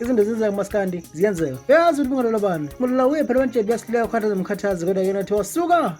izinto ezenzeka kumaskandi ziyenzeka uyazi ukuthi kungalola bani ngolola uye phela wantshebe uyasileka ukhathaza mkhathazi kodwa yena thiwa suka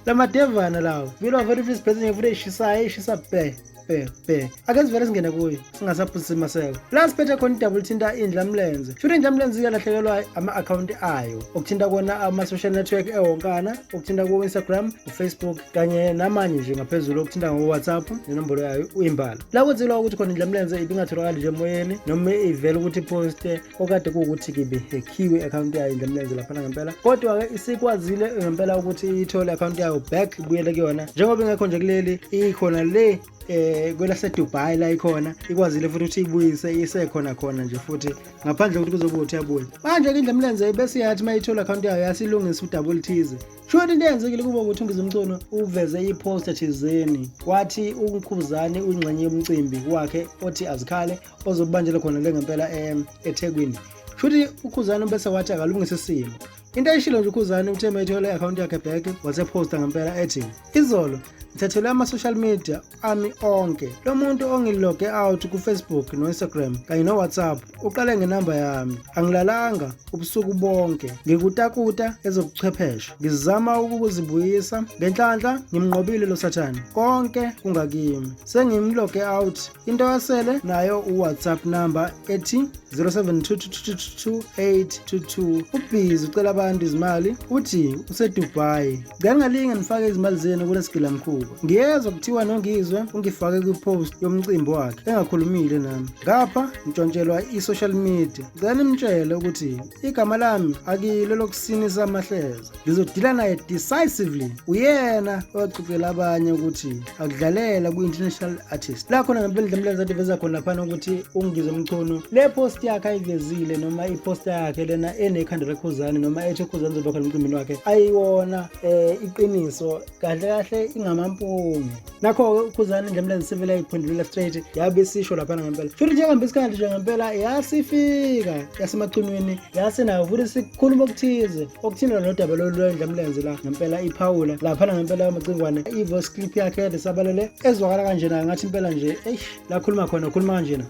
la madevana lawo vile wavela ufisa ibhesi nje futhi eyishisayo eyishisa bhe bhe bhe ake sivele singene kuyo singasaphuzisi maseko la siphethe khona idabula uthinta indla mlenze shuthi indla mlenze iyalahlekelwa ama-akhawunti ayo okuthinta kona ama-social network ewonkana okuthinta ku-instagram ufacebook kanye namanye nje ngaphezulu okuthinta ngo-whatsapp nenombolo yayo uyimbala la kwenzelwa ukuthi khona indlamlenze ibingatholakali nje emoyeni noma ivele ukuthi iposte okade kuwukuthi kibe hekhiwe i-akhawunti yayo indlamlenze laphana ngempela kodwa-ke isikwazile ngempela ukuthi iyithole i-akhawunti yayo back ibuyele kuyona njengoba ingekho nje kuleli ikhona le eh kwelaseDubai la ikhona ikwazile futhi ukuthi ibuyise isekhona khona nje futhi ngaphandle kokuthi kuzobe uthi abuye manje ke indlemlenze bese yathi mayithola account yayo yasilungisa udouble thize Shona into eyenzekile kubo ukuthi uNgizimcono uveze i-poster thizeni wathi uNkhuzane uyingxenye yomcimbi wakhe othi azikhale ozobanjelwa khona le ngempela em eThekwini. Shuthi uKhuzane bese wathi akalungise isimo. Into ayishilo nje uKhuzane uthe methole i-akhawunti yakhe back waseposta ngempela ethi izolo ngithathelwe ama-social media ami onke lo muntu ongiloge out kufacebook no-instagram kanye nowhatsapp uqale ngenamba yami angilalanga ubusuku bonke ngikutakuta ezobuchwepheshe ngizama ukukuzibuyisa ngenhlanhla ngimnqobile lo sathane konke kungakimi sengimloge out into yasele nayo uwhatsapp number ethi 0722222822 ubhizi ucela abantu izimali uthi usedubai Ngangalinge nifake izimali zenu kulesigilamkhuba. Ngiyezwa kuthiwa nongizwe ungifake kwipost yomcimbi wakhe engakhulumile nami. Ngapha ngitshontshelwa i-social media. Ngicela nimtshele ukuthi igama lami akilo lokusinisa amahleza. Ngizodila naye decisively. Uyena owaxoxela abanye ukuthi akudlalela kwi-international artist la khona ngempela idlamlenza adiveza khona laphana ukuthi ungizwe mchunu le post yakhe ayivezile noma iposta yakhe lena enekhanda lekhuzane noma ethe khuzane zoba khona emcimbini wakhe ayiwona eh iqiniso kahle kahle ingamampunge nakho-ke ukhuzane idlamlenza sevele ayiphendulula straight yabe sisho laphana ngempela futhi njengambe isikhathi nje ngempela yasifika yasemacunwini yase nayo ukuthi sikhuluma okuthize okuthina nodaba lolu lwendla mlenze la ngempela iphawula laphana ngempela yamacingwane i-voice clip yakhe yade sabalele ezwakala kanjena ngathi impela nje eish lakhuluma khona ukhuluma kanjena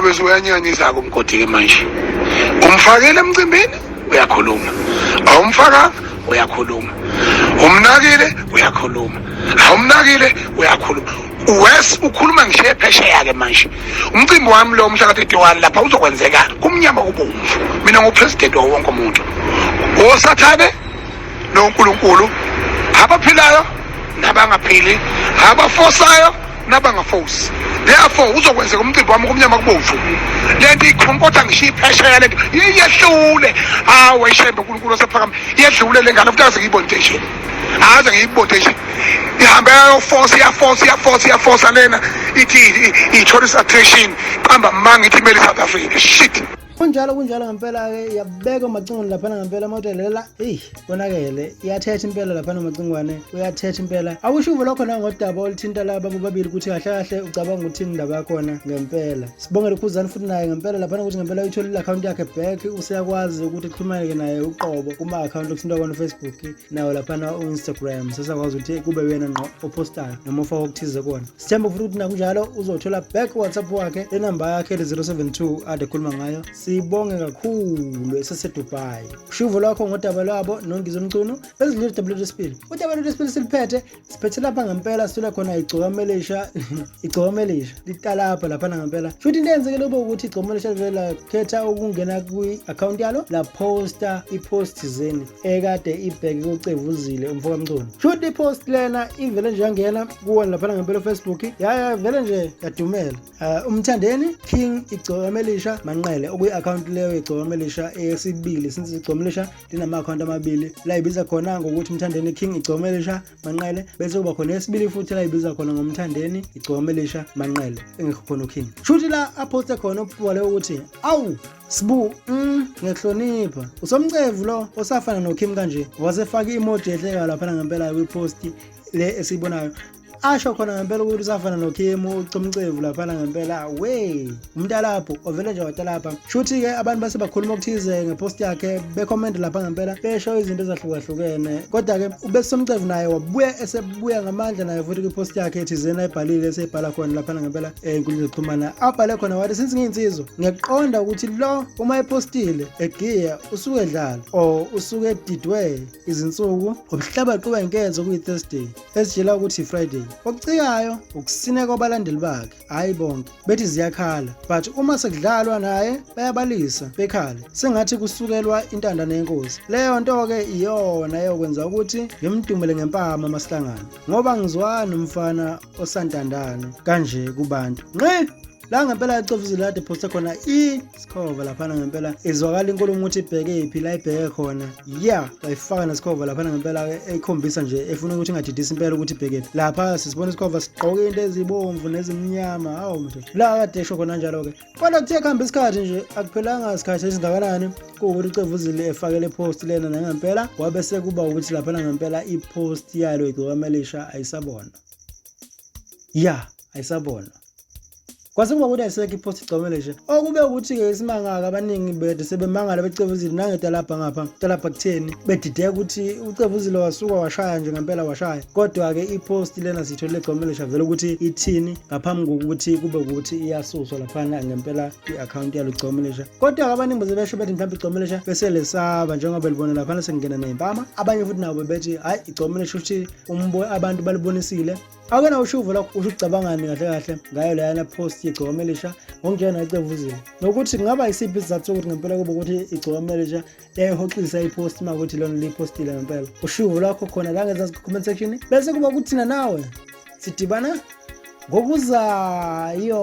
bese uyanyanyisa-ke umgodi-ke manje umfakile emcimbini uyakhuluma awumfakanga uyakhuluma umnakile uyakhuluma awumnakile uyakhuluma Wes ukhuluma ngishiye phesheya ke manje. Umcimbi wami lo umhla ka-31 lapha uzokwenzeka kumnyama kubomvu. Mina ngupresident wawo wonke umuntu. Osathane noNkulunkulu abaphilayo nabangaphili, abafosayo nabangafosi. Therefore uzokwenzeka umcimbi wami kumnyama kubomvu. Lento ikhonkotha ngishiye iphesheya lento. Yehlule. Hawe shembe uNkulunkulu osephakama. Yedlule lengane futhi azikibonte nje. angaze ngiyibode nje ihambe yayofosa iyafosa iyafosa iyafosa lena ithi i-tourist attraction qamba manga ithi imele i-south africa shit kunjalo kunjalo ngempela-ke yabekwa emacingweni laphana ngempela amahotela lela eyi konakele iyathetha impela laphana emacingwane uyathetha impela awusho uvo lokho nangodaba oluthinta laba bobabili ukuthi kahle kahle ucabanga ukuthini indaba yakhona ngempela sibongele ukhuzani futhi naye ngempela laphana ukuthi ngempela uyitholile i-akhawunti yakhe back useyakwazi ukuthi kuxhumaneke naye uqobo kuma-akhawunti okuthintwa kona ufacebook nawo laphana u-instagram sesakwazi ukuthi kube wena ngqo opostayo noma ofaka okuthize kona sithemba futhi ukuthi nakunjalo uzothola back whatsapp wakhe lenamba yakhe le-072 ade khuluma ngayo sibonge kakhulu esesedubai ushuvo lwakho ngodaba lwabo nongizo mcunu bezidlile udaba lwethu lesibili udaba lwethu lesibili siliphethe siphethe lapha ngempela sithole khona igcokamelisha igcokamelisha litalapha laphana ngempela futhi into eyenzekele kube ukuthi igcokamelisha live lakhetha ukungena kwi-akhawunti yalo laphosta ipost zeni ekade ibheke kucevuzile umfokamculo futhi ipost lena ivele nje yangena kuwona laphana ngempela ufacebook yaya vele nje yadumela uh, umthandeni king igcokamelisha manqele okuyi-akhawunti leyo igcokamelisha eyesibili since igcokamelisha linama-akhawunti amabili layibiza khona ngokuthi mthandeni king igcome elisha manqele bese kuba khona esibili futhi layibiza khona ngomthandeni igcome elisha manqele engekho khona uking shuthi la aphoste khona ububole ukuthi awu Sbu, mm, ngiyahlonipha. Usomcevu lo osafana noKim kanje. Wasefaka imoji ehleka lapha ngempela kwipost le esibonayo asho khona ngempela ukuthi usafana nokhimu ucomcevu laphana ngempela we umntalapho ovele nje watalapha shuthi-ke abantu base bakhuluma okuthize ngepost yakhe bekhomende lapha ngempela besho izinto ezahlukahlukene kodwa-ke ubesomcevu naye wabuya esebuya ngamandla naye futhi kwipost yakhe thizeni ayibhalile eseyibhala khona laphana ngempela eh, ey'nkundleni zokuxhumana abhale khona wathi since ngiyinsizwa ngiyakuqonda ukuthi lo uma epostile egiya usuke edlala or usuke edidwe izinsuku ubuhlabaqiwe nkenzo kuyi-thursday ezitshela ukuthi Friday okucikayo ukusine kwabalandeli bakhe hayi bonke bethi ziyakhala but uma sekudlalwa naye bayabalisa bekhale sengathi kusukelwa intandane yenkosi leyo nto ke iyona eyokwenza ukuthi ngimdumele ngempama masihlangana ngoba ngizwani umfana osantandana kanje kubantu nqe la ngempela icofa izulu kade phosta khona isikhova laphana ngempela izwakala inkulumo ukuthi ibheke iphi la ibheke khona ya bayifaka nesikhova laphana ngempela ekhombisa nje efuna ukuthi ingadidisi impela ukuthi ibheke phi lapha sisibona isikhova sigqoke into ezibomvu nezimnyama hawu mntu la kade esho khona njalo-ke kodwa kuthe kuhamba isikhathi nje akuphelanga isikhathi esingakanani kuwukuthi ucevuzile efakele ipost lena nangempela wabe sekuba ukuthi laphana ngempela ipost yalo igcokama elisha ayisabona ya ayisabona kwase kuba ukuthi ayisekho iphosi igcomele nje okube ukuthi-ke isimangaka abaningi bede sebemangala becevuzile nangetalabha ngapha talabha kutheni bedideka ukuthi ucevuzile wasuka washaya nje ngempela washaya kodwa-ke iphosti lena siyitholile egcomele nje vele ukuthi ithini ngaphambi kokuthi kube ukuthi iyasuswa laphana ngempela i-akhawunti yalo igcomelesha kodwa-ke abaningi beze besho bethi mhlawumbe igcomelesha beselesaba njengoba libona laphana sekungena ney'mpama abanye futhi nabo bethi hhayi igcomelesha ukuthi abantu balibonisile ake na ushuvo lakho usho ucabangani kahle kahle ngayo leyana post yegcokama elisha ngokunjena ecevuzini nokuthi kungaba isiphi isizathu sokuthi ngempela kube ukuthi igcokama elisha yayihoxisa ipost uma ukuthi lona liyipostile ngempela ushuvo lwakho khona la ngezansi comment section bese kuba kuthina nawe sidibana ngokuzayo